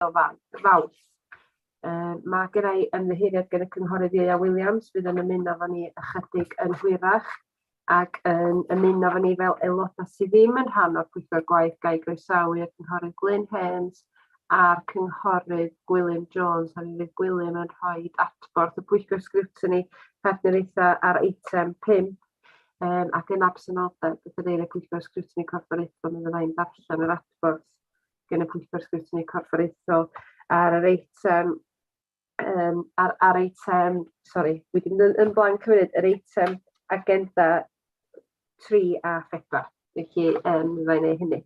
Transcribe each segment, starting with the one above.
o Fawrth. Uh, mae gen i ymddiheuriad gen y cynghorydd Ieia Williams fydd yn ymuno fo ni ychydig yn hwyrach ac yn ymuno fo ni fel aelodau sydd ddim yn rhan o'r pwyllgor gwaith gael groesawu y cynghorydd Glyn Hens a'r cynghorydd Gwilym Jones a mi fydd Gwilym yn rhoi adborth y pwyllgor sgrwtini partneriaethau ar eitem 5 um, ac yn absenoldeb y cadeirydd pwyllgor sgrwtini corfforaethol mi fyddai'n darllen yr adborth gan y Pwyllgor Sgrwtini Corfforaethol ar yr eitem um, ar, ar eitem, sori, wedi mynd yn, yn blanc hefyd, yr eitem agenda 3 a 4. Felly, um, fe wneud hynny.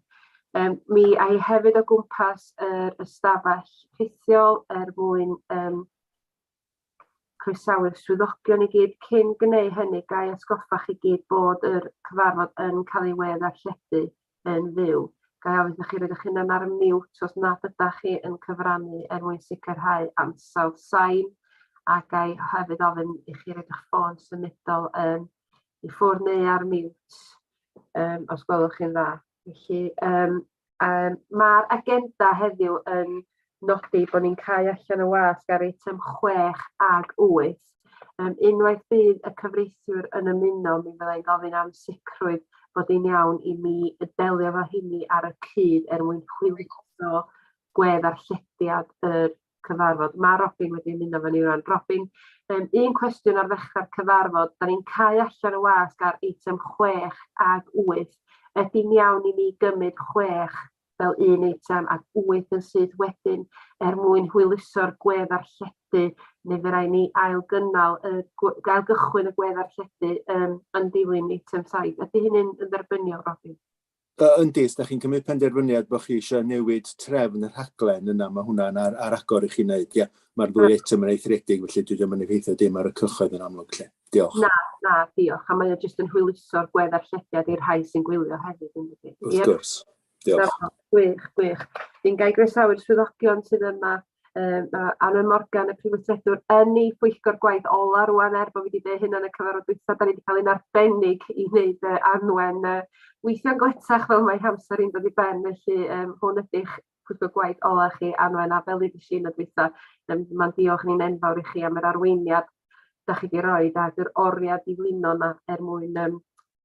Um, mi a'i hefyd o gwmpas yr ystafell rhithiol er mwyn um, croesawu'r swyddogion i gyd cyn gyneu hynny ga'i atgoffa chi gyd bod yr cyfarfod yn cael ei wedd arlledu yn fyw. Ga'i ofyn iddach chi roed eich hunan ar mute os nad ydach chi yn cyfrannu er mwyn sicrhau ansawdd sain, a ga'i hefyd ofyn i chi roed eich ffôn symudol yn i ffwrdd neu ar mute, um, os gwelwch chi'n dda. Felly, um, Um, Mae'r agenda heddiw yn nodi bod ni'n cael allan y wasg ar eitem 6 ag 8. Um, unwaith bydd y cyfreithiwr yn ymuno, mi fyddai'n gofyn am sicrwydd bod yn iawn i mi delio fo hynny ar y cyd er mwyn hwyluso gwedd ar llediad yr cyfarfod. Mae Robin wedi ymuno efo ni rwan. Robin, um, un cwestiwn ar ddechrau'r cyfarfod. Da ni'n cael allan y wasg ar eitem 6 ag 8. Ydy'n iawn i ni gymryd 6 fel un eitem ac 8 yn syth wedyn er mwyn hwyluso'r gwedd ar lledu neu fe rai ni ail gynnal y gael gychwyn y gwedd ar lledu um, yn dilyn eitem 7. Ydy hynny'n yn dderbyniol, Robin? Yy yndi, os dach chi'n cymryd penderfyniad bod chi eisiau newid trefn y rhaglen yna mae hwnna'n ar, ar agor i chi wneud, ie. Mae'r ddwy eitem yn eithriedig felly dydy o'm yn effeithio dim ar y cyhoedd yn amlwg 'lly. Diolch. Na, na, diolch. A mae o jyst yn hwyluso'r gwedda'r llediad i'r rhai sy'n gwylio hefyd yndydi? Wrth gwrs. Diolch. Gwych, gwych. Dwi'n gai groesawu'r swyddogion sydd yma Um, mae Anna Morgan, y prifwythredwr, yn ei phwyllgor gwaith ola rwan er bod fi wedi dweud hynna yn y cyfarfod dwytha, da ni wedi cael ein arbennig i wneud uh, anwen uh, weithio'n gletach fel mae hamser i'n dod i ben, felly um, hwn ydych pwyllgor gwaith ola chi anwen a fel i ddysgu yn y dwytha, um, mae'n diolch ni'n enfawr i chi am yr arweiniad da chi wedi rhoi, a dy'r oriau diflino yna er mwyn um,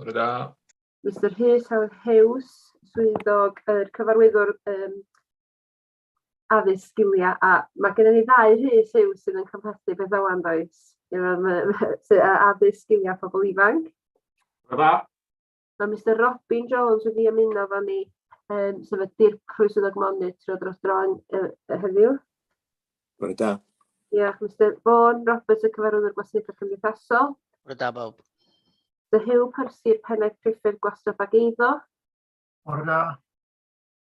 Bore da. Mr Rhys Howard Hughes, swyddog yr er cyfarwyddwr um, addysg sgiliau, a mae gennym ni ddau Rhys Hughes sydd yn cymhlethu beth o'n does, sydd addysg sgiliau pobl ifanc. Bore da. Mae Mr Robin Jones wedi ymuno fo ni, um, sef y dirprwy swyddog monitro dros dro'n uh, heddiw. Bore da. Diolch, Mr Vaughan. Roberts y cyfarwyddwr gwasanaethau cymdeithasol. Bore da bawb. Mr Hugh Percy'r pennaeth priffyrdd gwastraff ag eiddo. Bore da.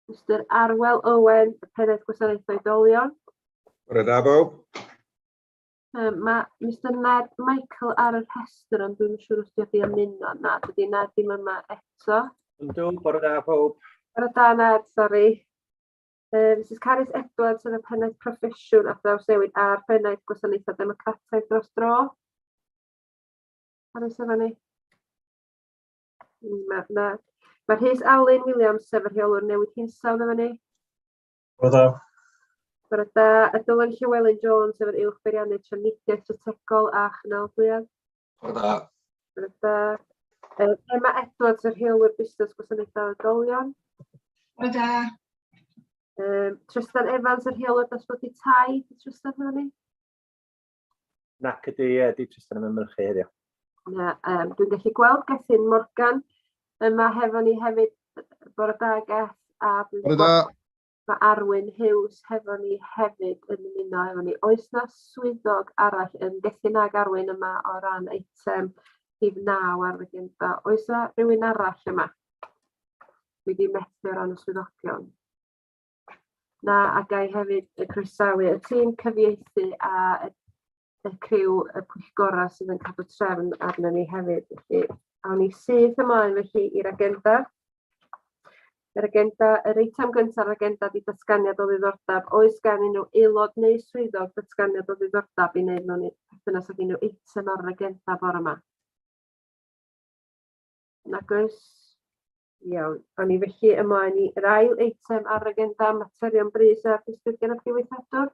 Mr Arwel Owen, y pennaeth gwasanaethau dolion. Bore da bawb. Um, mae Mr Ned Michael ar y rhestr, ond dwi'n siŵr os diolch i ymuno. Na, dydy Ned ddim yma eto. Yndw, bore da pawb. Bore da Ned, sori. Yy Misus Carys Edwards yn y Pennaeth Proffesiwn a Thrawsnewid a'r Pennaeth Gwasanaethau Democrataidd dros dro. Carys efo ni. Mae ma, ma Rhys Alun Williams, sef y rheolwr newid hinsawdd efo ni. Bore da. Bore da. A Dylan Llywelyn Jones, sef yr uwch beiriannydd trafnidiaeth strategol a chynalydwyedd. Bore da. Bore da. Um, Emma Edwards, y rheolwyr busnes gwasanaethau oedolion. Bore da. Um, Tristan Evans, y rheolwyr dosbarthu tai. Di Tristan hwnna ni? Nac ydy, ie, di Tristan yn ymwneud chi heddiw. Na, um, dwi'n gallu gweld Gethin Morgan yma hefo ni hefyd. Bore da, Geth. Bore da. Mae Arwyn Hughes hefo ni hefyd yn ymuno efo ni. Oes na swyddog arall yn gallu nag Arwyn yma o ran eitem rhif 9 ar agenda? Oes na rhywun arall yma? Dwi wedi methu o ran y swyddogion. Na, a gai hefyd y croesawu y tîm cyfieithu a y y criw y pwyllgorau sydd yn cadw trefn arnyn ni hefyd. Felly, awn ni syth ymlaen felly i'r agenda. Yr agenda, yr eitem gyntaf yr agenda di datganiad o ddiddordeb. Oes gen unrhyw aelod neu swyddog datganiad o ddiddordeb i wneud mewn perthynas ag unrhyw eitem ar yr agenda bore yma? Nag oes? Iawn. Awn ni felly ymlaen i'r ail eitem ar agenda materion brys a disgrifiad y diweithredwr.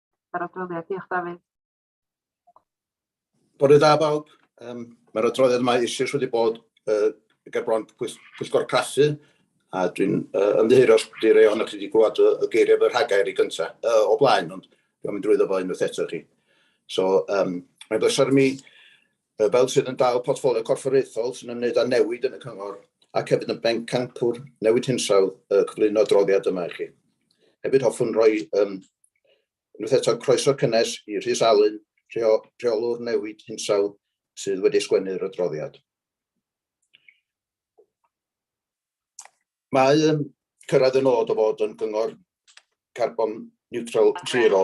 yr adroddiad. Diolch, Dafydd. Bore da bawb. Um, Mae'r adroddiad yma eisoes wedi bod uh, ger bron pwyllgor craffu, a dwi'n uh, ymddiheuro os wedi rei ohonoch chi wedi gwybod y, y geiriau fy rhagair i gyntaf, uh, o blaen, ond dwi'n mynd drwyddo fo unwaith eto chi. So, um, mae'n bleser mi, uh, fel sydd yn dal portfolio corfforaethol sy'n ymwneud â newid yn y cyngor, ac hefyd yn ben campwr newid hinsawdd uh, cyflwyno adroddiad yma i chi. Hefyd hoffwn roi um, Unwaith eto, croeso cynnes i Rhys Alun, rheolwr newid hinsawdd sydd wedi sgwennu'r adroddiad. Mae yn cyrraedd y nod o fod yn gyngor carbon neutral zero.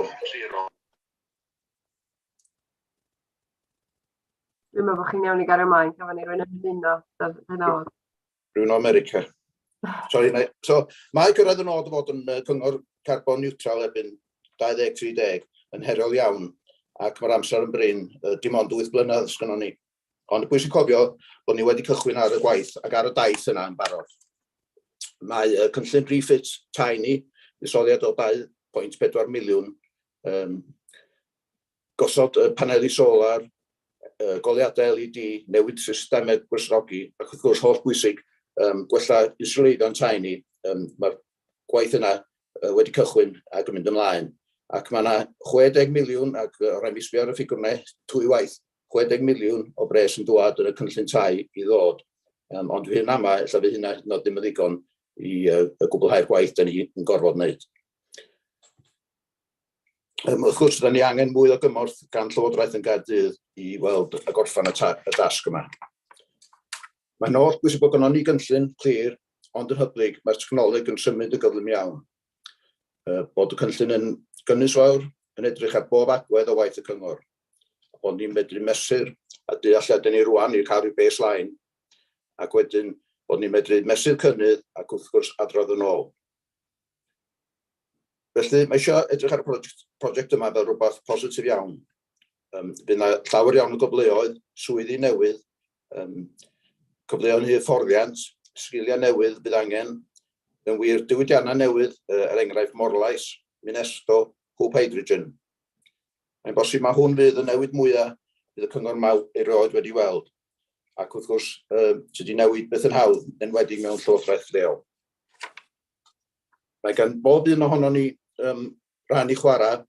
Dwi'n meddwl bod chi'n iawn i gario ymlaen, gafon ni rwy'n ymuno, dyna oedd. Rwy'n o America. Sorry, mae, so, mae gyrraedd y nod o fod yn uh, cyngor carbon neutral erbyn 2030 yn heriol iawn ac mae'r amser yn brin, uh, dim ond 8 blynedd sgynnon ni. Ond pwysig cofio bod ni wedi cychwyn ar y gwaith ac ar y daith yna yn barod. Mae uh, cynllun refit tai ni, isoliad o 2.4 miliwn um, gosod paneli solar, goleuadau LED, newid systemau gwresogi, ac wrth gwrs, holl bwysig, gwella inswleiddio'n tai ni. Mae'r gwaith yna wedi cychwyn ac yn mynd ymlaen, ac mae yna 60 miliwn, ac o rai mi sbio ar y ffigwr yna dwy waith, 60 miliwn o bres yn dwad yn y cynllun tai i ddod, ond dwi yn ama ella fydd hynna hyd yn oed ddim yn ddigon i gwblhau'r gwaith 'da ni yn gorfod 'neud. Um, wrth gwrs, da ni angen mwy o gymorth gan Llywodraeth yn Gaerdydd i weld y gorffan y, y dasg yma. Mae'n oll bwysig bod gynnon ni gynllun clir, ond yn hyblyg, mae'r technoleg yn symud yn gyflym iawn. Uh, bod y cynllun yn gynnwys fawr, yn edrych ar bob agwedd o waith y cyngor. Ond ni'n medru mesur a dealliadau ni rwan i'r cael rhyw baseline ac wedyn bod ni'n medru mesur cynnydd ac wrth gwrs adrodd yn ôl. Felly, mae eisiau edrych ar y project, project yma fel rhywbeth positif iawn. Um, bydd yna llawer iawn o gyfleoedd, swyddi newydd, um, cyfleoedd i hyfforddiant, sgiliau newydd bydd angen, yn wir diwydiannau newydd, er enghraifft morlais, minesto, hwb hydrogen. Mae'n bosib mae hwn fydd y newid mwyaf bydd y cyngor maw erioed wedi weld, ac wrth gwrs, um, sydd wedi newid beth yn hawdd, enwedig mewn llywodraeth leol. Mae gan bob un ohonon ni yym rhan i chwarae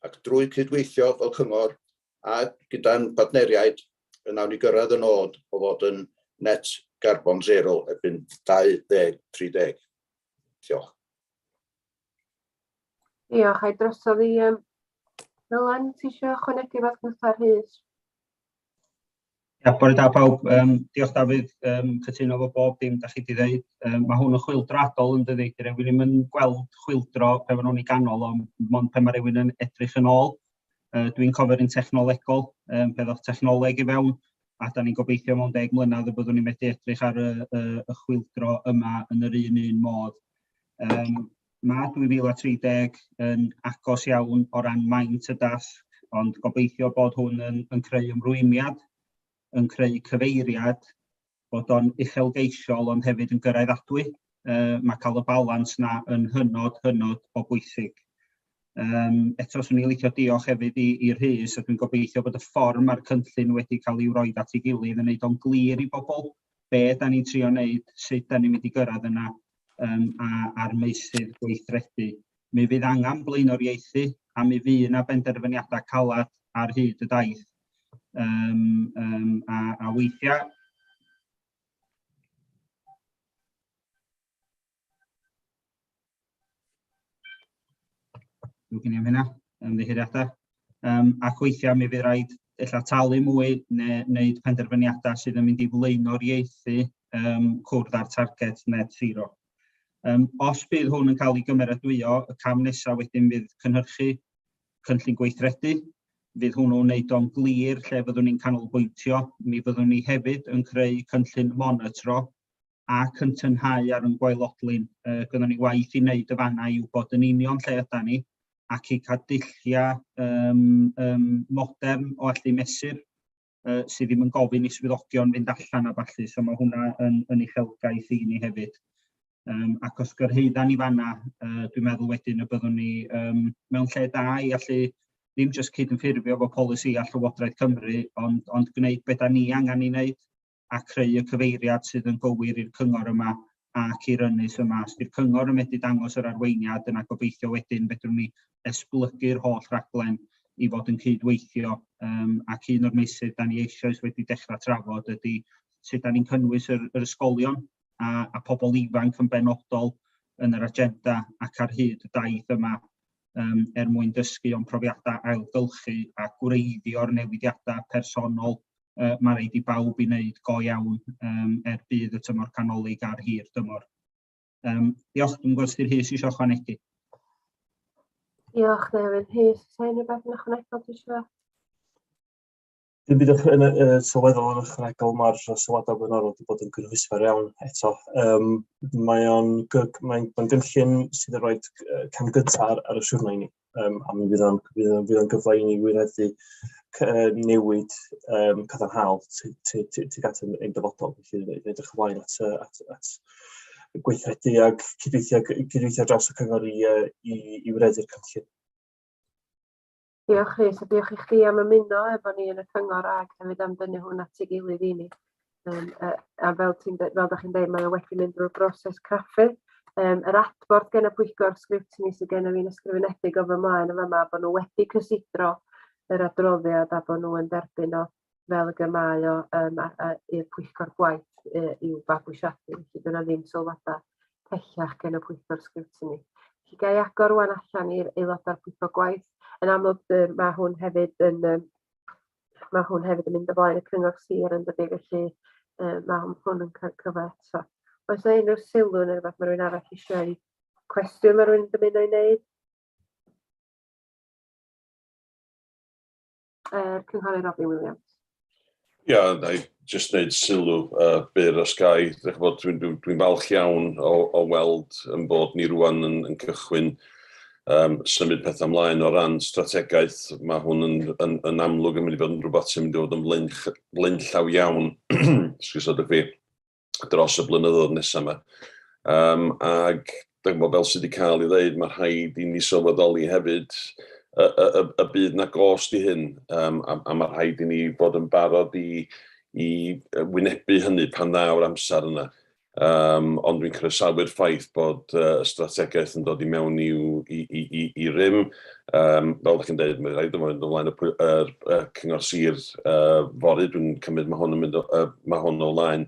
ac drwy cydweithio fel cyngor a gyda'n partneriaid y nawn ni gyrraedd y nod o fod yn net garbon zero erbyn 2030. Diolch. Diolch. Ai drosodd i um, Dylan, ti eisiau ychwanegu rhywbeth gwrtha Rhys? Ia, bore da pawb. Um, diolch Dafydd, um, cytuno fo bob dim da chi wedi dweud. Um, mae hwn yn chwildradol yn dydi, dwi rewyn ddim yn gweld chwildro pe maen nhw'n ei ganol, ond mond pe mae rewyn yn edrych yn ôl. Uh, Dwi'n cofio'r un technolegol, um, pe ddoch technoleg i fewn, a da ni'n gobeithio mewn deg mlynedd y byddwn ni'n methu edrych ar y, y, y chwildro yma yn yr un un modd. Um, Mae 2030 yn agos iawn o ran maint y dasg, ond gobeithio bod hwn yn, yn creu ymrwymiad, yn creu cyfeiriad, bod o'n uchelgeisiol ond hefyd yn gyrraeddadwy. Uh, mae cael y balans na yn hynod, hynod o bwysig. Um, eto, swn i'n licio diolch hefyd i, Rhys, a dwi'n gobeithio bod y ffordd mae'r cynllun wedi cael ei wroi at ei gilydd yn wneud o'n glir i bobl be da ni'n trio wneud, sut da ni'n mynd i gyrraedd yna um, a, a'r meysydd gweithredu. Mi fydd angen blaenoriaethu a mi fydd yna benderfyniadau calad ar hyd y daith. Um, um, a, a weithiau Dwi'n gynnu am hynna, ymddiheuriadau. Um, ac weithiau mi fydd rhaid illa talu mwy neu wneud penderfyniadau sydd yn mynd i flaeno'r ieithu um, cwrdd â'r target net zero. Um, os bydd hwn yn cael ei gymeradwyo, y cam nesaf wedyn fydd cynhyrchu cynllun gweithredu, fydd hwnnw'n wneud o'n glir lle fyddwn ni'n canolbwyntio, mi fyddwn ni hefyd yn creu cynllun monitro ac yn tynhau ar yn gwaelodlin. Uh, Gynnon ni waith i wneud y fanna i wybod yn union lle yda ni ac i cael dulliau um, um, modern o allu mesur uh, sydd ddim yn gofyn i swyddogion fynd allan a falle, so mae hwnna yn, yn uchelgaeth i ni hefyd. Um, ac os gyrhaedda ni fanna, uh, dwi'n meddwl wedyn y byddwn ni um, mewn lle da i allu ddim jyst cyd-ynffurfio fo polisi a Llywodraeth Cymru, ond, ond gwneud beth da ni angen i wneud a creu y cyfeiriad sydd yn gywir i'r cyngor yma ac i'r ynys yma. Os ydy'r cyngor yn medru dangos yr arweiniad, yna gobeithio wedyn fedrwn ni esblygu'r holl raglen i fod yn cydweithio um, ac un o'r meysydd da ni eisoes wedi dechrau trafod ydy sut da ni'n cynnwys yr, yr ysgolion a, a pobl ifanc yn benodol yn yr agenda ac ar hyd y daith yma um, er mwyn dysgu o'n profiadau ailgylchu a gwreiddio'r newidiadau personol uh, mae rhaid i bawb i wneud go iawn um, er bydd y tymor canolig ar hir dymor. Um, diolch, dwi'n gwybod sydd hys eisiau chwanegu. Diolch, Nefyn. Hys, sa'n unrhyw beth yn ychwanegol ti eisiau? Dwi'n bydd yn y sylweddol yn ychwanegol mae'r sylwadau blaenorol wedi bod yn gynhwysfer iawn eto. Um, mae'n mae gynllun sydd yn rhoi cam gyntaf ar, ar y siwrna i ni. um, a mi fydd o'n fydd o'n gyfle i ni wireddu newid um, cadarnhaol tuag at ein dyfodol. Felly, edrych ymlaen at, at, at gweithredu ag cydweithio, cydweithio dros y cyngor i, i, i wireddu'r cynllun. Diolch Rhys, a diolch i chdi am ymuno efo ni yn y cyngor ag hefyd am dynnu hwn at ei gilydd i ni. Yym yy a fel ti'n de- fel 'dach chi'n deud mae o wedi mynd drwy'r broses craffu yym yr adborth gen y pwyllgor sgrutiny sy genna fi'n ysgrifenedig o fy mlaen yn fama bo' n'w wedi cysidro yr adroddiad a bo' n'w yn derbyn o fel ag y mae o yym a- a- i'r pwyllgor gwaith yy i'w fabwysiadu felly dyna ddim sylwada pellach gen y pwyllgor sgrutiny. Felly ga'i agor rŵan allan i'r aelodau'r pwyllgor gwaith yn amlwg yy ma' hwn hefyd yn yym Mae hwn hefyd yn mynd o flaen y cyngor sir yn dydy, felly uh, mae hwn, hwn yn cael cyfa eto. Oes yna unrhyw sylw neu rhywbeth mae rhywun arall eisiau cwestiwn mae rhywun yn dymuno i wneud? Er, Cynghorydd Robin Williams. Ia, yeah, jyst wneud sylw uh, byr os gai. Dwi'n dwi, dwi, dwi falch iawn o, o weld yn bod ni rwan yn, yn cychwyn um, symud pethau ymlaen o ran strategaeth. Mae hwn yn, yn, yn amlwg yn mynd i fod yn rhywbeth sy'n mynd i fod yn flaen, flaen llaw iawn, sgwrs o fi, dros y blynyddoedd nesaf yma. Um, ac Dw, fel sydd wedi cael ei ddeud, mae rhaid i ni sylweddoli hefyd y, y, y, y bydd na gost i hyn, um, a, a mae rhaid i ni fod yn barod i, i wynebu hynny pan ddaw'r amser yna. Um, ond dwi'n croesawu'r ffaith bod uh, y strategaeth yn dod i mewn i'w, i, i, i, i rym. Um, fel ydych chi'n dweud, mae'n rhaid o'n mynd ymlaen y, y, y cyngor sir uh, fory, dwi'n cymryd mae hwn yn mynd o, uh, mae hwn o flaen.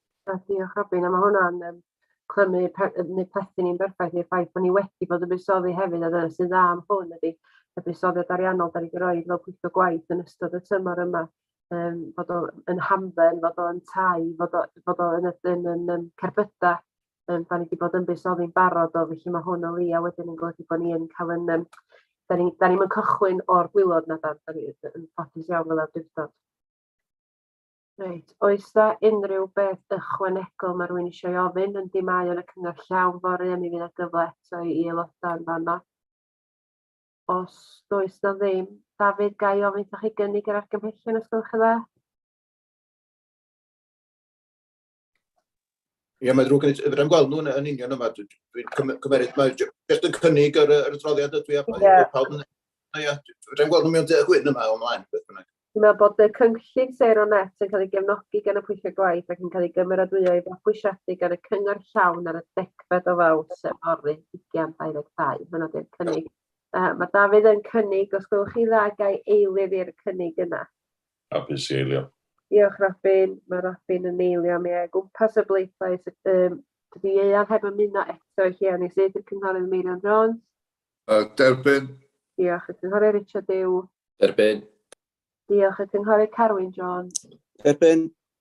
Na, diolch Robin, a mae hwnna'n um, clymu neu plethu ni'n berffaith i'r ffaith bod ni wedi bod yn buddsoddi hefyd, a dyna sy'n dda am hwn ydy y buddsoddiad ariannol da ni wedi rhoi fel pwyllgor gwaith yn ystod y tymor yma, um, fod o'n hamdden, fod o'n tai, fod o'n yn, yn, yn, yn cerbydau, um, da ni wedi bod yn buddsoddi'n barod o, felly mae hwn o li, a wedyn yn golygu bod ni yn cael yn... Um, da ni'n ni, ni cychwyn o'r gwylod na da, da ni'n ffodus iawn fel awdurdod. Reit, oes da unrhyw beth ychwanegol mae rhywun eisiau ei ofyn, yndi mae yn y cyngor llawn fory a mi fydd na gyfle eto i aelodau yn fanno. Os does na ddim, Dafydd, ga i ofyn wrthoch chi gynnig yr argymhellion os gwelwch yn dda? Ie, mae'n ddrwg gen i. Fydda'n gweld nhw'n yn union yma. Dwi'n cymeryd, mae jyst yn cynnig yr, yr adroddiad ydw i a yeah. pawb yn... Ie, fydda'n gweld nhw mewn deg hwyn yma o'n mlaen, beth bynnag. Dwi'n meddwl bod y cynllun Sero Net yn cael ei gefnogi gan y pwyllio gwaith ac yn cael ei gymeradwyo i fabwysiadu gan y cyngor llawn ar y degfed o faws yn orri 2022. Mae'n oeddi'r cynnig. Uh, mae Dafydd yn cynnig, os gwelwch chi dda, gael eilydd i'r cynnig yna. Hapus i eilio. Diolch Robin, mae Robin yn eilio mi o gwmpas y bleidlais. Um, dydy Ieuan heb ymuno eto i chi a nes i'r cynghorydd Meirion Jones. Uh, derbyn. Diolch y cynghorydd Richard Dew. Derbyn. Diolch y cynghorydd Carwyn Jones. Derbyn.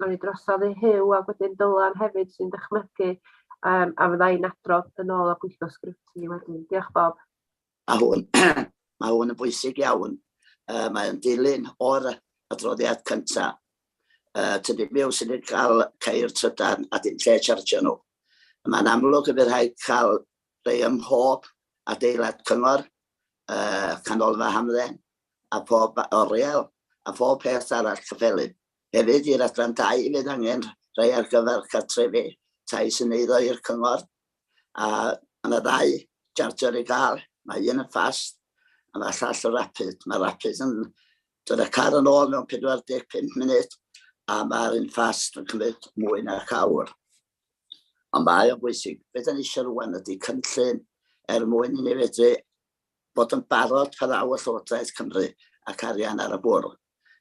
Roi drosodd i Huw a wedyn Dylan hefyd sy'n dychmygu um, a fydda i'n adrodd yn ôl a gweithio sgript i wedyn. Diolch Bob. Mae hwn, mae hwn yn bwysig iawn. Uh, mae'n dilyn o'r adroddiad cyntaf. Uh, tydi miw sy'n ei cael ceir trydan a dim lle chargio nhw. Mae'n amlwg y bydd rhaid cael rhai ym mhob adeilad cyngor, uh, canolfa hamdden, a phob oriel, a phob peth arall cyffelyb. Hefyd, i'r Adran Dai, fydd angen rhai ar gyfer cartrefi tai sy'n eiddo i'r Cyngor, a mae yna ddau jarjio'r i gael, mae un yn ffast a mae llall yn rapid. Mae rapid yn dod â car yn ôl mewn 45 munud a mae'r un ffast yn cymryd mwy na'r awr. Ond mae o'n bwysig, beth yn eisiau rwan ydy cynllun er mwyn i ni fedru bod yn barod pan ddaw y Llywodraeth Cymru ac arian ar y bwrdd.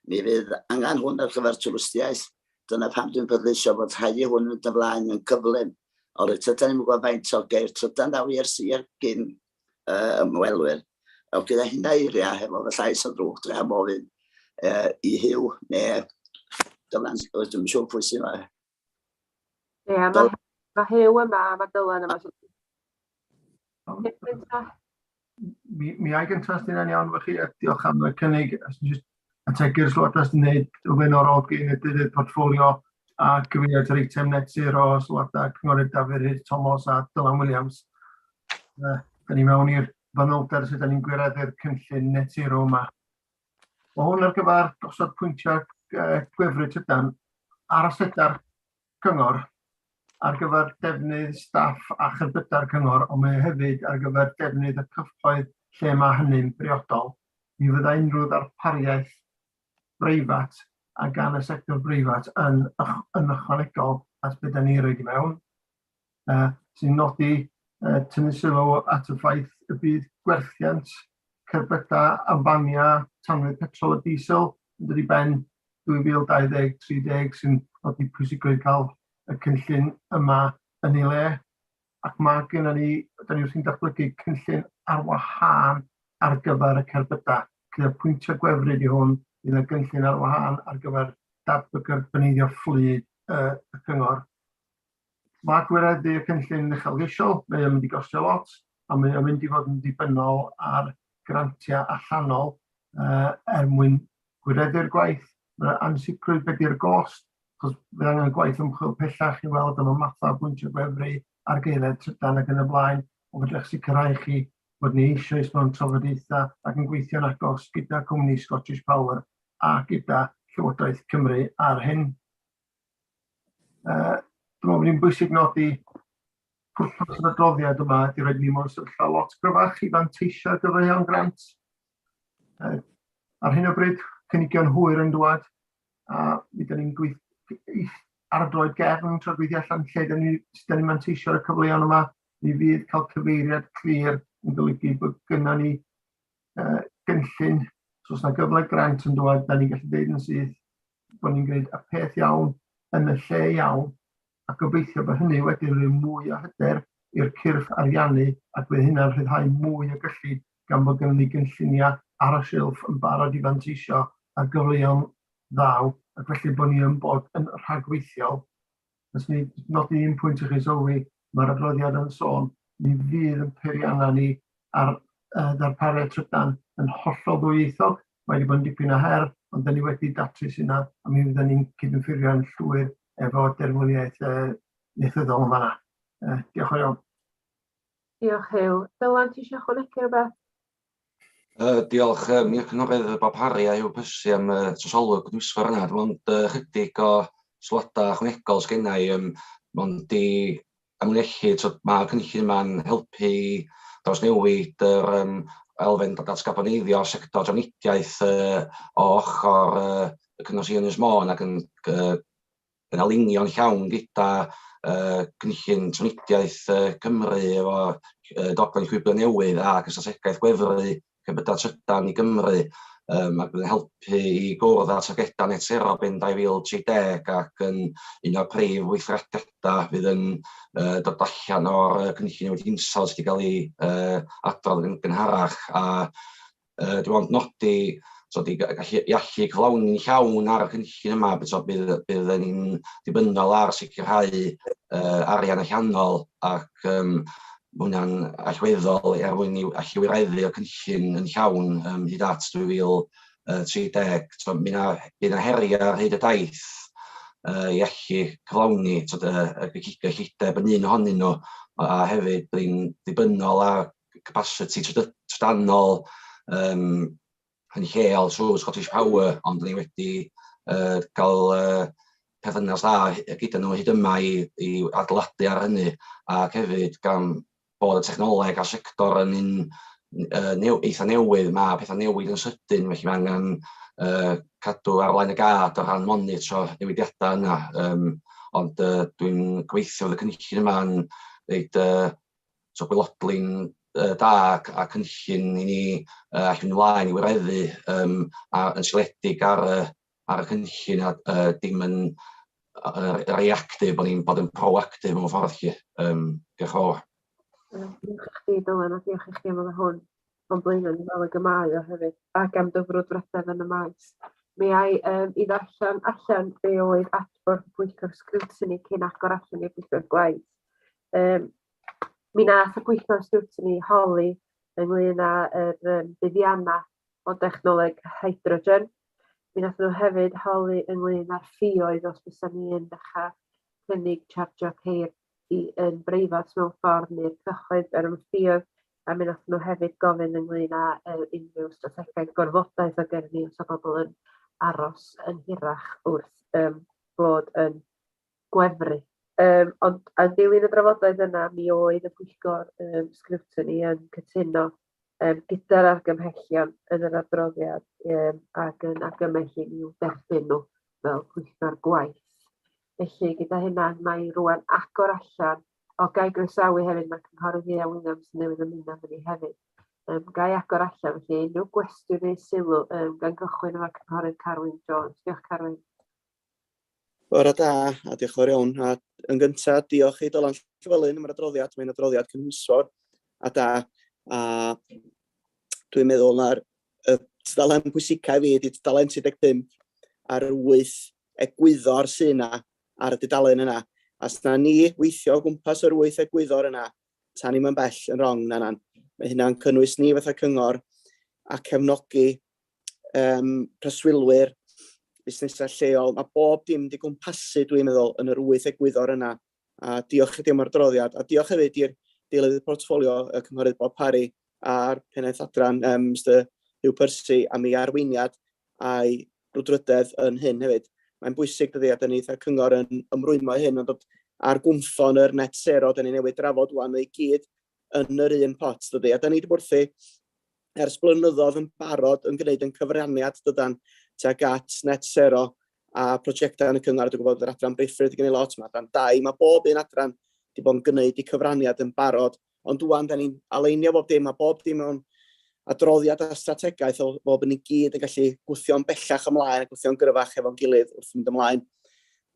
Mi fydd angen hwn ar gyfer twristiaeth. Dyna pam dwi'n bleidleisio fod rhaid i hwn fynd yn flaen yn gyflym. Ond reit ydan ni'n gwybod faint o geir trydan ddaw i'r sir gyn uh, ymwelwyr. Wel, gyda hynna eiriau, hefo fy llais o drwch, dre am ofyn uh, i Hugh neu Dylan, dwi'n siŵr pwy sy'n Ie, mae Dylan. ma Huw yma a mae Dylan yma. So... Mi, mi ai gyntaf sy'n yn iawn fy chi, a diolch am y cynnig. Ategu'r sylwadau sy'n gwneud o flaenorol gyn y dydd portfolio a gyfeiriad yr eitem net zero o sylwadau Cynghorydd Dafydd Rhys Tomos a Dylan Williams. Uh, da ni mewn i'r fanylder sydd da ni'n gwireddu'r cynllun net zero yma. Mae hwn ar gyfer gosod pwyntiau gwefru tydan ar asedau'r cyngor ar gyfer defnydd staff a cherbydau'r cyngor, ond mae hefyd ar gyfer defnydd y cyffoedd lle mae hynny'n briodol. Ni fydda unrhyw ddarpariaeth breifat a gan y sector breifat yn, yn ychwanegol at beth da ni roed i mewn. uh, sy'n nodi uh, tynnu sylw at y ffaith y bydd gwerthiant cerbydau a faniau tanwydd petrol a diesel yn dod i ben 2020-30 sy'n nodi pwysigrwydd cael y cynllun yma yn ei le. Ac mae gen ni, da ni wrthi'n datblygu cynllun ar wahân ar gyfer y cerbydau. Gyda pwyntio gwefryd i hwn, bydd y gynllun ar wahân ar gyfer datblygu'r bynyddio fflyd uh, y cyngor. Mae gwireddu y cynllun uchelgeisiol, mae o'n mynd i gostio lot, a mae o'n mynd i fod yn ddibynnol ar grantiau allanol uh, er mwyn gwireddu'r gwaith. Mae ansicrwydd beth i'r gost, achos bydd angen gwaith ymchwil pellach i weld am y mathau bwyntio gwefru, argaeledd trydan ac yn y blaen, ond fedrwch sicrhau chi bod ni eisoes mewn trafodaethau ac yn gweithio'n agos gyda cwmni Scottish Power a gyda Llywodraeth Cymru ar hyn. Uh, dwi'n meddwl bod hi'n bwysig nodi pwrpas yr adroddiad yma ydy roed ni mewn sefyllfa lot gryfach i fanteisio ar gyfer rheon grant. Uh, ar hyn o bryd, cynigion hwyr yn dwad, a mi dyn ni'n gweithio ardroed gefn trwy gweithio allan lle dyn ni, dyn ni'n manteisio ar y cyfleon yma, mi fydd cael cyfeiriad clir yn golygu bod gyda ni uh, gynllun, so os yna gyfle grant yn dod, da ni'n gallu dweud yn syth, bod ni'n gwneud y peth iawn yn y lle iawn, a gobeithio bod hynny wedi rhoi mwy o hyder i'r cyrff ariannu ac bydd hynna'n rhyddhau mwy o gyllid gan bod gynnon ni gynlluniau ar y silff yn barod i fanteisio ar gyfleon ddaw ac felly bod ni yn bod yn rhagweithiol Jyst i nodi un pwynt i chi sylwi, mae'r adroddiad yn sôn mi fydd yn peiriannau ni ar uh, ddarpariaeth trydan yn hollol ddwyieithog. Mae wedi bod yn dipyn o her, ond dyn ni wedi datrys yna, a mi fyddwn ni'n cydymffurfio'n llwyr efo derfyniaeth uh, neithyddol yn fanna. Uh, diolch yn iawn. Diolch, Huw. Dylan, ti eisiau chwanegu rhywbeth? Yy diolch yym i'r cynghorydd yy Bob Parry a Huw Percy am yy trosolwg gydbwysfawr yna dim ond yy chydig o sylwada ychwanegol sgennai yym mond i amlinellu t'od ma'r cynllun yma'n helpu i drawsnewid yr yym elfen o datgarboneiddio'r sector drafnidiaeth yy o ochor yy y cyngor sir Ynys Môn ac yn gy- yn alinio'n llawn gyda uh, cynllun trwnidiaeth uh, Cymru efo uh, dogfen llwybr newydd a gysylltiaeth gwefru cybydau trydan i Gymru um, ac yn helpu i gwrdd â targedau net zero ben 2030 ac yn un o'r prif weithrediadau fydd yn uh, dod allan o'r cynllun wedi hinsawdd sydd wedi cael ei uh, adrodd yn gynharach a Yy dwi ond nodi t'od i ga- gallu i allu cyflawni'n llawn ar y cynllun yma by- t'od bydd bydd yn ni'n ddibynnol ar sicrhau yy arian allanol ac yym ma' hwnna'n allweddol er mwyn i allu wireddu y cynllun yn llawn yym hyd at 2030. T'od mi 'na bydd 'na heria' ar hyd y daith yy i allu cyflawni t'od yy y gyllideb yn un ohonyn nhw a a hefyd bydd ni'n ddibynnol ar capasiti trydanol um, yn lleol trwy Scottish Power, ond ni wedi uh, cael uh, perthynas dda gyda nhw hyd yma i, i adeiladu ar hynny, ac hefyd gan bod y technoleg a sector yn un uh, new, eitha newydd, mae pethau newid yn sydyn, felly mae angen uh, cadw ar flaen y gad o ran monitro newidiadau yna. Um, ond uh, dwi'n gweithio fod y cynllun yma'n reid uh, So gwelodlin uh, da ac, a cynllun i ni uh, allu mynd ymlaen i wireddu um, a, yn sioledig ar, uh, ar y cynllun a uh, dim yn uh, reactive, bod ni'n bod yn proactive mewn ffordd chi. Um, diolch yn fawr. Diolch i chdi, Dylan, a diolch i chi am y hwn o'n blaen yn fel y gymau o hefyd, ac am dyfrwyd bresedd yn y maes. Mi ai um, i ddarllen allan be oedd adborth y pwyllgor sgrwtini cyn agor allan i'r pwyllgor gwaith. Um, Mi nath y pwyllgor sgrwtini holi ynglŷn â yr um, buddiannau o dechnoleg hydrogen. Mi nath nhw hefyd holi ynglŷn â'r ffioedd os bysa ni yn dechrau cynnig chargio ceir i yn breifat mewn ffordd neu'r cyhoedd ar y ffioedd a mi nath nhw hefyd gofyn ynglŷn â uh, unrhyw strategaeth gorfodaeth o gyrru os o bobl yn aros yn hirach wrth um, bod yn gwefru. Um, ond a dilyn y drafodaeth yna, mi oedd y pwyllgor um, sgrwtini yn cytuno um, gyda'r argymhellion yn yr adroddiad um, ac yn argymell i ni derbyn nhw fel pwyllgor gwaith. Felly, gyda hynna, mae rwan agor allan o gael groesawu hefyd, mae Cynghorydd Iea Williams newydd ymuno â ni hefyd. Um, gai agor allan, felly unrhyw gwestiwn neu sylw um, gan gychwyn efo Cynghorydd Carwyn Jones. Diolch Carwyn. Bore da, a diolch yn fawr iawn. A yn gyntaf, diolch i Dylan Llywelyn am yr adroddiad. Mae'n adroddiad cynhwysfawr a da. A dwi'n meddwl na'r y tudalen pwysicau fi ydy tudalen 35 a'r 8 egwyddor sy'n yna ar y dudalen yna. A sna ni weithio o gwmpas yr 8 egwyddor yna, tan ni'n mynd bell yn rong, na na. Mae hynna'n cynnwys ni fatha cyngor a cefnogi um, preswylwyr, busnesau lleol, mae bob dim wedi gwmpasu, dwi'n meddwl, yn yr wyth egwyddor yna. A diolch i dim o'r droddiad, a diolch hefyd i'r deilydd portffolio y cynghorydd Bob Parry a'r pennaeth adran um, Mr Hugh Percy am ei arweiniad a'i rwdrydedd yn hyn hefyd. Mae'n bwysig dydy, a dyn ni eitha cyngor yn ymrwymo hyn, ond ar gwmffon yr net sero, dyn ni newid drafod wan i gyd yn yr un pot, dydy. A da ni wedi bod wrthi ers blynyddoedd yn barod yn gwneud yn cyfraniad dydan tuag at net sero a prosiectau yn y cyngor. Dwi'n gwybod bod yr adran briffryd wedi gwneud lot, mae adran dau, mae bob un adran wedi bod yn gwneud i cyfraniad yn barod. Ond dwi'n da ni'n aleinio bob dim, mae bob dim mewn adroddiad a strategaeth o bob yn ei gyd yn gallu gwythio'n bellach ymlaen a gwythio'n gryfach efo'n gilydd wrth mynd ymlaen.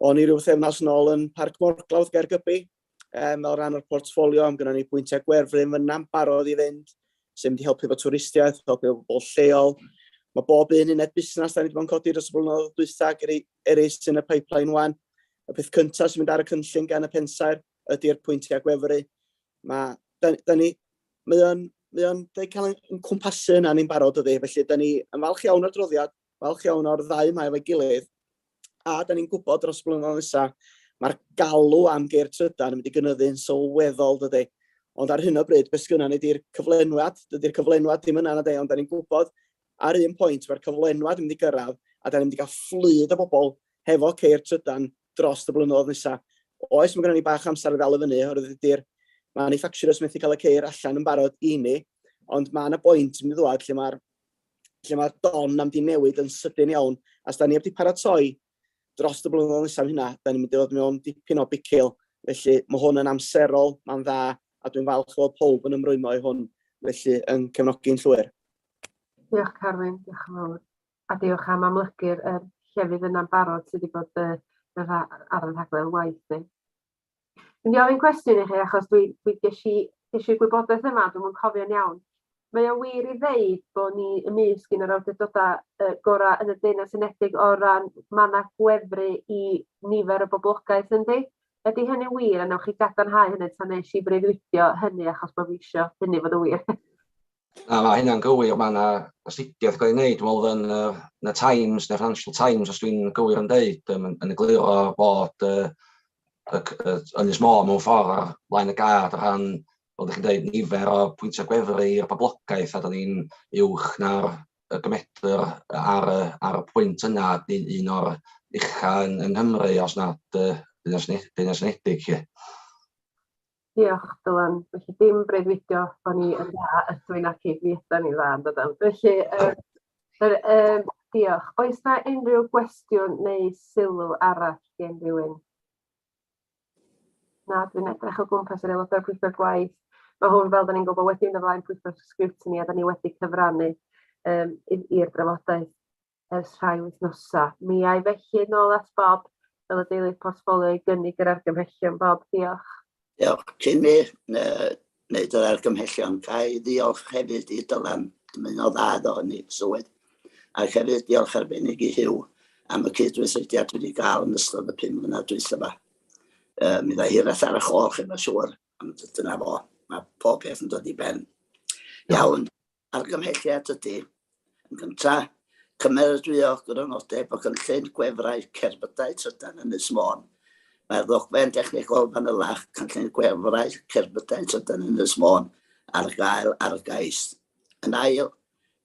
O'n i rhyw thefnos yn ôl yn Parc Morglawdd Gaergybi, um, o ran o'r portfolio, am gyda ni bwyntiau gwerfryn fyna'n barod i fynd, sy'n mynd i helpu fo twristiaeth, helpu fo bobl lleol. Mae bob un uned busnes da ni wedi bod yn codi dros y blynyddoedd dwytha ac eraill sy'n y pipeline wan. Y peth cyntaf sy'n mynd ar y cynllun gan y pensaer ydy'r pwyntiau gwefru. Mae, da, da ni, mae o'n, mae o'n da ni cael yn cwmpasu yna ni'n barod ydy. Felly, da ni yn falch iawn o'r droddiad, falch iawn o'r ddau mae efo'i gilydd, A da ni'n gwybod dros y blynyddoedd nesa, mae'r galw am geir trydan yn mynd i gynyddu'n sylweddol, dydy. Ond ar hyn o bryd, beth sgynna ni di'r cyflenwad, dydy'r cyflenwad ddim yna na de, ond da ni'n gwybod ar un pwynt mae'r cyflenwad yn mynd i gyrraedd a da ni'n mynd i gael fflyd o bobl hefo ceir trydan dros y blynyddoedd nesa. Oes, mae gennym ni bach amser i ddal i fyny, oherwydd ydy'r manufacturers methu cael y ceir allan yn barod i ni, ond mae yna bwynt yn mynd i ddod lle mae'r lle mae'r don am di newid yn sydyn iawn, a da ni wedi paratoi dros y blynyddoedd nesaf hynna, da ni'n mynd i fod mewn dipyn o bicil, felly mae hwn yn amserol, mae'n dda, a dwi'n falch o pob yn ymrwymo i hwn, felly yn cefnogi'n llwyr. Diolch Carwyn, diolch yn fawr. A diolch am amlygu'r er llefydd yna'n barod sydd wedi bod uh, ar y rhaglen waith ni. Dwi'n mynd i ofyn cwestiwn i chi achos dwi, dwi ges i ges i'r gwybodaeth yma, dwi'n yn cofio'n iawn. Mae o wir i ddeud bod ni ymysg un o'r awdurdodau uh, gorau yn y Deyrnas Unedig o ran manna gwefru i nifer y boblogaeth yndi? Ydy hynny'n wir a newch chi gadarnhau hynny tan nes i freuddwydio hynny achos bod fi eisiau hynny fod yn wir? Na, mae hynna'n gywir, mae yna astudiaeth gael ei wneud, dwi'n meddwl yn y, yn y Times, neu Financial Times, os dwi'n gywir yn dweud, yn, yn egluro bod uh, y, y, Ynys Môn mewn ffordd ar flaen y gad o ran, fel ydych chi'n dweud, nifer o pwyntiau gwefru i'r poblogaeth, a da ni'n uwch na'r y gymedr ar, ar y pwynt yna, ni'n un o'r uchaf yn, yn Nghymru, os nad uh, Deyrnas Unedig. Diolch, Dylan. Felly dim breuddwydio bo' ni yn dda ydw i naci, mi ydan ni'n dda yndydan? Felly yy yr yym diolch. Oes 'na unrhyw gwestiwn neu sylw arall gen rywun? Na, dwi'n edrych o gwmpas yr aelodau'r pwyllgor gwaith. Mae hwn, fel 'dan ni'n gwybod, wedi mynd ymlaen pwyllgor sgriwtini a 'dan ni wedi cyfrannu yym i i'r drafodaeth. ers rhai wythnosau. Mi ai felly nôl at Bob fel y deilydd portffolio i gynnig yr argymhellion. Bob, diolch. Diolch, Jimmy. Wneud yr argymhellion. Ga i ddiolch hefyd i Dylan am un o dda iddo yn ei swydd. Ac hefyd diolch arbennig i Huw am y cydweithrediad wedi gael yn ystod y pum mlynedd dwytha yma. Uh, mi ddau hiraeth ar y chol chi, mae'n siŵr, ond dyna fo. Mae pob peth yn dod i ben. Iawn. Argymhelliad ydy, yn gyntaf, cymeradwyo grynodeb o gynllun gwefrau cerbydau trydan Ynys Môn. Mae'r ddogfen dechnegol fanylach, Cynllun Gwefrau Cerbydau Trydan Ynys Môn, ar gael ar gais. Yn ail,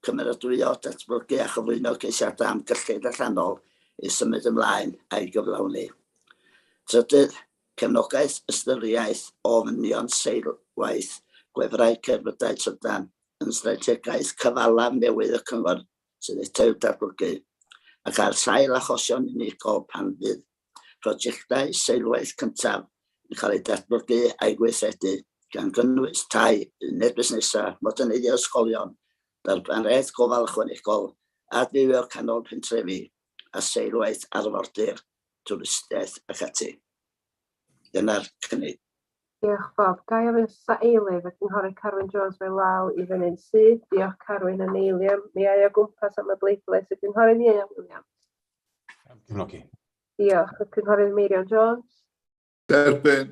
cymeradwyo, datblygu a chyflwyno ceisiadau am gyllid allanol i symud ymlaen a'i gyflawni. Trydydd, Cefnogaeth Ystyriaeth ofynion seilwaith gwefrau cerbydau trydan yn strategaeth cyfalaf newydd y Cyngor sydd eto i'w datblygu, ac ar sail achosion unigol pan fydd prosiectau seilwaith cyntaf yn cael eu datblygu a'u gweithredu, gan gynnwys tai, uned busnesau, moderneiddio ysgolion, darpariaeth gofal ychwanegol, adfywio canol pentrefi. a seilwaith arfordir, twristiaeth ac ati. Dyna'r cynnig. Diolch Bob. Ga i ofyn os oes eilydd, y Cynghorydd Carwyn Jones mae law i fyny'n syth. Diolch Carwyn yn eiliam. Mi ai o gwmpas am y bleidlais, y Cynghorydd Ieuan Williams. Cefnogi. Diolch. Y Cynghorydd Meirion Jones. Derbyn.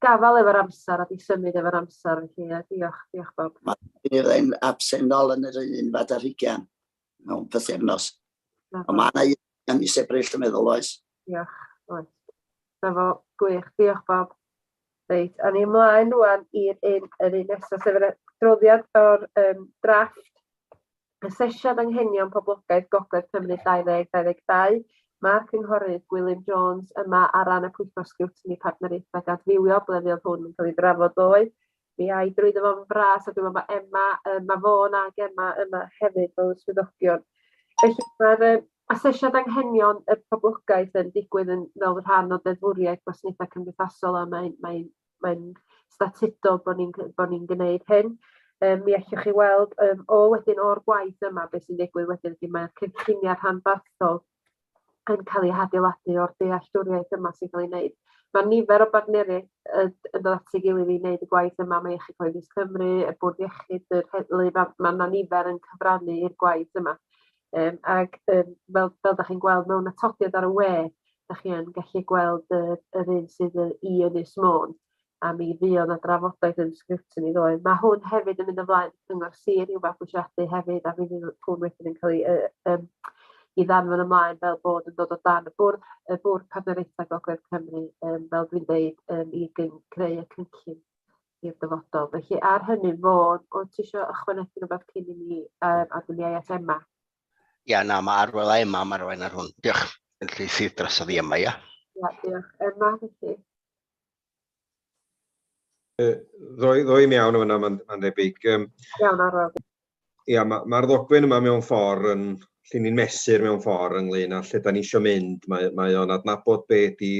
Gafal efo'r amser a di symud efo'r amser felly ie diolch, diolch Bob. Mae rhywun absennol yn yr un fad ar hugian mewn pythefnos. Ond mae yna un yn mis Ebrill yn meddwl oes. Diolch, oes. Na fo, gwych, diolch Bob. Reit, a ni ymlaen rwan i'r un, yr un nesaf, sef yr adroddiad o'r um, drafft Asesiad Anghenion Poblogaeth Gogledd Cymru 2022, Mae'r Cynghorydd Gwilym Jones yma ar ran y Pwyllgor Sgriwtini Partneriaethau Dadfywio, ble fuodd hwn yn cael ei drafod ddoe. Mi ai drwyddo fo'n fras a dwi'n meddwl bod Emma, yy, mae Fôn a Gemma yma hefyd fel y swyddogion. Felly mae'r yy, asesiad anghenion y poblogaeth yn digwydd yn fel rhan o ddeddfwriaeth gwasanaethau cymdeithasol a mae'n mae mae'n statudol bod ni'n bod ni'n gwneud hyn. Um, mi allwch chi weld um, o wedyn o'r gwaith yma beth sy'n digwydd wedyn ydy mae'r cynlluniau rhanbarthol yn cael ei hadeiladu o'r dealltwriaeth yma sy'n cael ei wneud. Mae nifer o bartneriaid yn dod at ei gilydd i wneud y gwaith yma, mae Iechyd Cyhoeddus Cymru, y Bwrdd Iechyd, yr Heddlu, mae yna nifer yn cyfrannu i'r gwaith yma. Yym ag yym fel fel 'dach chi'n gweld mewn atodiad ar y we 'dach chi yn gallu gweld yr yr un sydd yy i Ynys Môn a mi fuodd 'na drafodaeth yn sgriptiwn i ddoe. Ma' hwn hefyd yn mynd ymlaen cyngor sir i'w fabwysiadu hefyd a mi fydd hwn wedyn yn ca'l 'i yy yym 'i ddanfon ymlaen fel bod yn dod o dan y bwrdd y bwrdd partneriaetha gogledd Cymru yym fel dwi'n deud yym i gyn- creu y cynllun. i'r dyfodol. Felly ar hynny, Fôn, o ti eisiau ychwanegu rhywbeth cyn i ni um, a dyna i at Emma? Ia, na, mae arwel a Emma yma rwan ar hwn. Diolch. Felly sydd drosodd i Emma, ia? Ia, diolch. Emma, felly. Ddoi, ddoi iawn o fyna, mae'n ma debyg. Um, iawn, arwel. ia, mae'r ma ddogfen yma mewn ffordd yn lle ni'n mesur mewn ffordd ynglyn â lle da ni eisiau mynd. Mae, mae o'n adnabod be di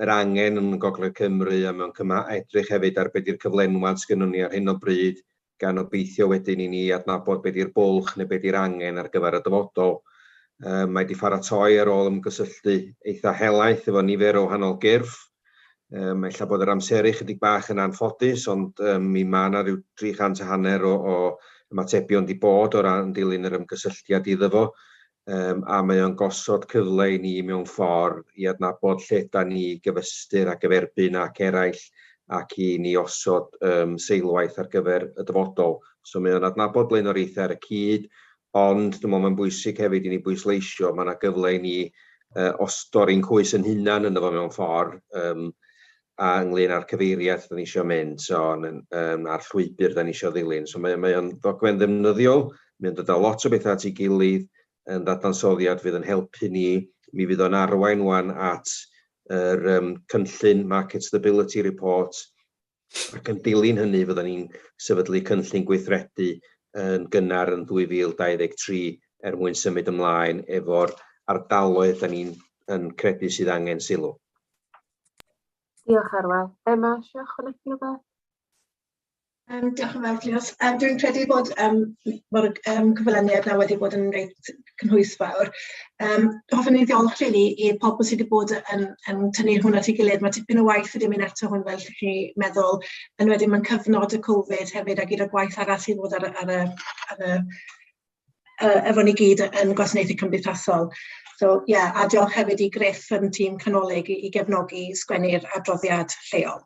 yr angen yn Gogledd Cymru a mewn cyma edrych hefyd ar beth yw'r cyflenwad sgynnwn ni ar hyn o bryd gan obeithio wedyn i ni adnabod beth yw'r bwlch neu beth yw'r angen ar gyfer y dyfodol. Um, mae wedi pharatoi ar ôl ymgysylltu eitha helaeth efo nifer o wahanol gyrff Um, ella bod yr amseru chydig bach yn anffodus, ond um, mi mae yna rhyw 300 a hanner o, o ymatebion di bod o ran dilyn yr ymgysylltiad iddo fo, um, a mae o'n gosod cyfle i ni mewn ffordd i adnabod lle da ni gyfystyr ac eferbyn ac eraill ac i ni osod um, seilwaith ar gyfer y dyfodol. So mae o'n adnabod blaenoriaethau ar y cyd, Ond dwi'n meddwl mae'n bwysig hefyd i ni bwysleisio, mae yna gyfle i ni uh, ostori'n cwys yn hunan yn efo mewn ffordd, um, a ynglyn â'r cyfeiriad da ni eisiau mynd, so, um, a'r llwybr da ni eisiau ddilyn. So mae, mae o'n ddogfen ddefnyddiol, mae'n dod â lot o bethau at ei gilydd, yn ddadansoddiad fydd yn helpu ni, mi fydd o'n arwain wan at yr um, cynllun Market Stability Report, ac yn dilyn hynny fyddan ni'n sefydlu cynllun gweithredu yn gynnar yn 2023 er mwyn symud ymlaen efo'r ardaloedd da ni'n yn credu sydd angen sylw. Diolch Arwel. Emma, eisiau ychwanegu rhywbeth? Um, diolch yn fawr, Cleos. Um, dwi'n credu bod um, mae'r um, cyflwyniad na wedi bod yn reit cynhwysfawr. Um, hoffwn i ddiolch rili i pobl sydd wedi bod yn, yn tynnu hwn at ei gilydd. Mae tipyn o waith wedi mynd eto hwn fel chi meddwl, yn wedyn mae'n cyfnod y Covid hefyd a gyda gwaith arall sydd fod ar, ar, ar, ar, ar uh, efo ni gyd yn gwasanaethu cymdeithasol. So, ie, yeah, a diolch hefyd i Griff yn tîm canolig i, i gefnogi sgwennu'r adroddiad lleol.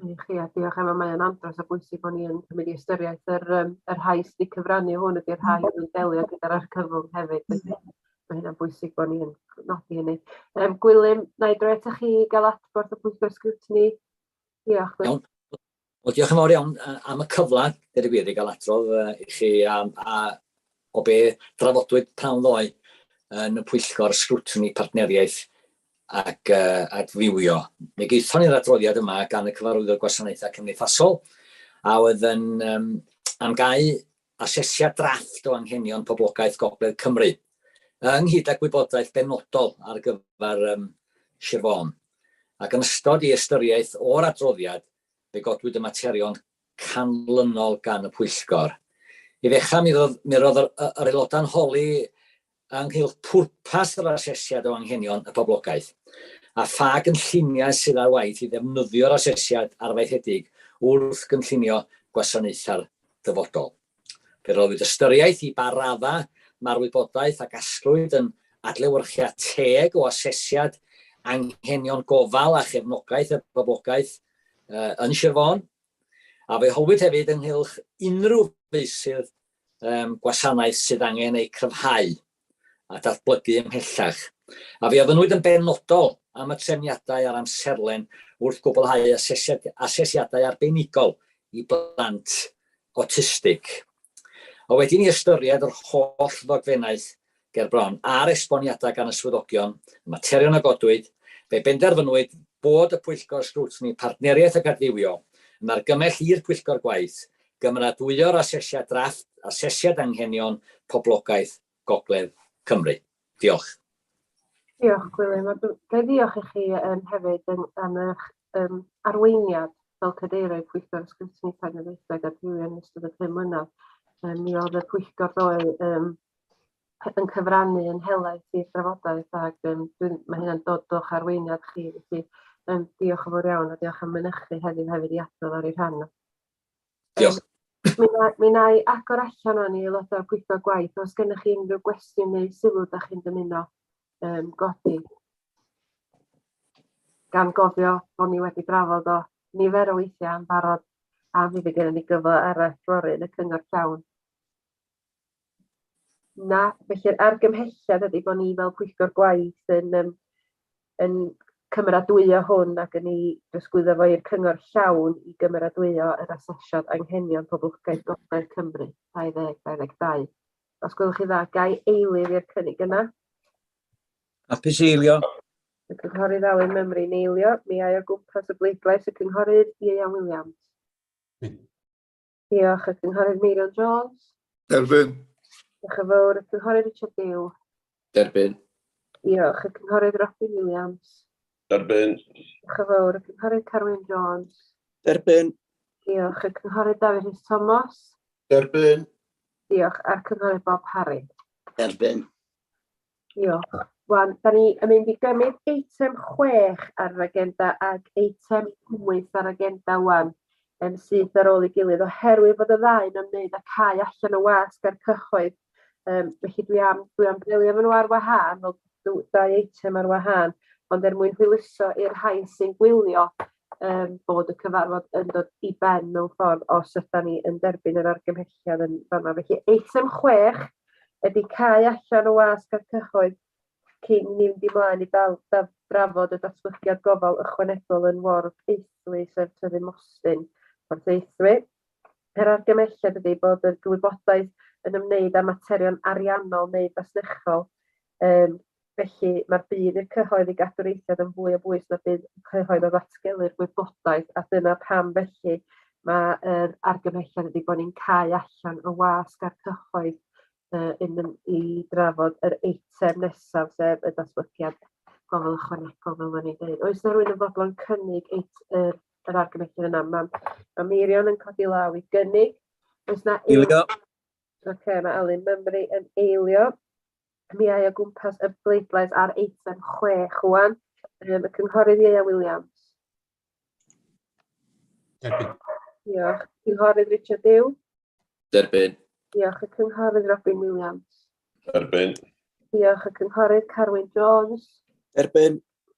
Ie, chi, a diolch Emma, mae o'n andros o bwysig bod ni yn cymryd i ystyriaeth yr yym y rhai sy 'di cyfrannu hwn ydi'r rhai mm. sy'n delio gyda'r argyfwng hefyd felly mm. mae hynna'n bwysig bod ni'n nodi hynny. Yym Gwilym, na i droi atoch chi gael adborth y pwyllgor sgrwtini. Diolch. Iawn. Wel, diolch yn fawr iawn am y cyfle, gyda gwir, i gael atrodd i chi a, a O be drafodwyd pan ddoe yn y Pwyllgor Sgrwtini Partneriaeth ac Adfywio, mi gaethon ni'r adroddiad yma gan y Cyfarwyddwr Gwasanaethau Cymdeithasol, a oedd yn amgáu asesiad drafft o anghenion poblogaeth Gogledd Cymru, ynghyd â gwybodaeth benodol ar gyfer Sir Fôn. Ac yn ystod ei ystyriaeth o'r adroddiad, fe godwyd y materion canlynol gan y pwyllgor. I ddechrau, mi roedd, mi roedd yr, yr aelodau'n holi ynghylch pwrpas yr asesiad o anghenion y poblogaeth a pha gynlluniau sydd ar waith i ddefnyddio'r asesiad arfaethedig wrth gynllunio gwasanaethau'r dyfodol. Fe roddwyd ystyriaeth i ba raddau mae'r wybodaeth a gasglwyd yn adlewyrchiad teg o asesiad anghenion gofal a chefnogaeth y boblogaeth yn Sir Fôn, a fe holwyd hefyd ynghylch unrhyw feysydd gwasanaeth sydd angen eu cryfhau. a datblygu ymhellach, a fe ofynnwyd yn benodol am y trefniadau a'r amserlen wrth gwblhau asesiadau arbenigol i blant awtistig. A wedi i ni ystyried yr holl ddogfennaeth ger bron a'r esboniadau gan y swyddogion, y materion a godwyd, fe benderfynwyd bod y Pwyllgor Sgrwtini Partneriaeth ac Adfywio yn argymell i'r Pwyllgor Gwaith Cymeradwyo'r Asesiad Drafft Asesiad Anghenion Poblogaeth Gogledd Cymru. Diolch. Diolch, Gwilym. A dw- ga i ddiolch i chi um, hefyd yn, am eich um, arweiniad fel cadeirydd Pwyllgor Ysgrifennu Partneriaethau a Gadwrion yn ystod y pum mlynedd. Um, mi oedd y pwyllgor ddoe um, yn cyfrannu yn helaeth i'r drafodaeth ac um, dwi'n, mae hynna'n dod o'ch arweiniad chi. Felly, um, diolch yn fawr iawn a diolch am mynychu heddiw hefyd i adrodd ar ei rhan. Diolch. Mi na i agor allan o'n i aelodau'r pwyllgor gwaith os gennych chi unrhyw gwestiwn neu sylw da chi'n dymuno um, godi. Gan gofio bod ni wedi drafod o nifer o weithiau yn barod a mi fe gennym ni gyfle arall fory yn y cyngor llawn. Na, felly'r argymhelliad ydy bod ni fel pwyllgor gwaith yn yym yn cymeradwyo hwn ac yn ei drosglwyddo fo i'r cyngor llawn i gymeradwyo yr asesiad anghenion poblogaeth gogledd Cymru 2022. Os gwelwch chi dda, gai eilydd i'r cynnig yna? Hapus eilio. Y cynghorydd Alun Mymru'n eilio. Mi ai o gwmpas y bleidlais y cynghorydd Ieuan Williams. Diolch y Cynghorydd Meirion Jones. Derbyn. Diolch yn fawr y Cynghorydd Richard Dew. Derbyn. Diolch y Cynghorydd Robin Williams. Derbyn. Diolch yn fawr y Cynghorydd Carwyn Jones. Derbyn. Diolch y Cynghorydd Dafydd Rhys Thomas. Derbyn. Diolch a'r Cynghorydd Bob Harry. Derbyn. Diolch. Wan, da ni yn mynd i gymryd eitem 6 ar yr agenda ac eitem 8 ar agenda wan yn syth ar ôl ei gilydd oherwydd bod y ddau yn ymwneud â cae allan o wasg a'r cyhoedd. Um, felly dwi am, dwi am delio efo nhw ar wahân, fel dau eitem ar wahân, ond er mwyn hwyluso i'r rhai sy'n gwylio yym bod y cyfarfod yn dod i ben mewn ffordd os ydan ni yn derbyn yr argymhelliad yn fanna. Felly eitem 6 ydy cau allan o wasg a'r cyhoedd cyn ni fynd i mlaen i dal, da, drafod y datblygiad gofal ychwanegol yn Ward Eithlu sef Tyddyn Mostyn, Port Eithwy. Yr argymhelliad ydy bod y gwybodaeth yn ymwneud â materion ariannol neu fasnachol um, Felly, mae'r budd i'r cyhoedd i gadw'r eithriad yn fwy o bwys na budd y cyhoedd o ddatgelu'r gwybodaeth, a dyna pam felly mae'r argymhelliad ydy bod ni'n cau allan y wasg a'r cyhoedd uh, yn mynd i drafod yr eitem nesaf, sef y datblygiad gofal ychwanegol, fel o'n i'n dweud. Oes na rwy'n yn fodlon cynnig eit, yr, yr argymhelliad yna? Mae ma Meirion yn codi law i gynnig. Oes na... Eilio. Oce, okay, mae Alun Mymru yn eilio. cwmnïau o gwmpas y bleidlais ar eitem 6 wan, um, y Cynghorydd Ieia Williams. Derbyn. Diolch. Cynghorydd Richard Dew. Derbyn. Diolch. Y Cynghorydd Robin Williams. Derbyn. Diolch. Y Cynghorydd Carwyn Jones. Derbyn.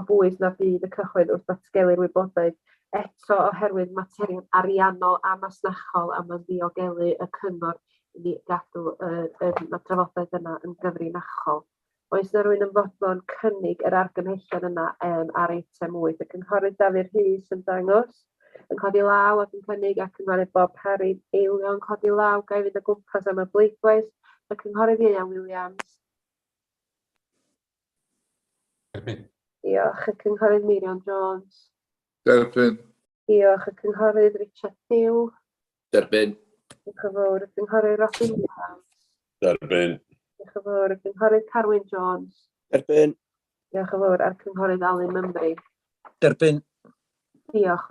o bwys na fydd y cyhoedd wrth ddatgelu'r wybodaeth eto oherwydd materion ariannol a masnachol a mae'n ddiogelu y cyngor i ni gadw yr yym ma'r drafodaeth yna yn gyfrinachol. Oes 'na rywun yn fodlon cynnig yr argymhellion yna yym ar eitem 8? Y Cynghorydd Dafydd Rhys yn dangos yn codi law ac yn cynnig a Cynghorydd Bob Parry'n eilio yn codi law. Ga i fynd o gwmpas am y bleidlais? Y Cynghorydd Ieuan Williams. Erbyn. Diolch, y Cynghorydd Meirion Jones. Derbyn. Diolch, y Cynghorydd Richard Pugh. Derbyn. Diolch yn fawr, y Cynghorydd Robin Williams. Derbyn. Diolch yn fawr, y Cynghorydd Carwyn Jones. Derbyn. Diolch yn fawr, a'r Cynghorydd Alun Mymru. Derbyn. Diolch.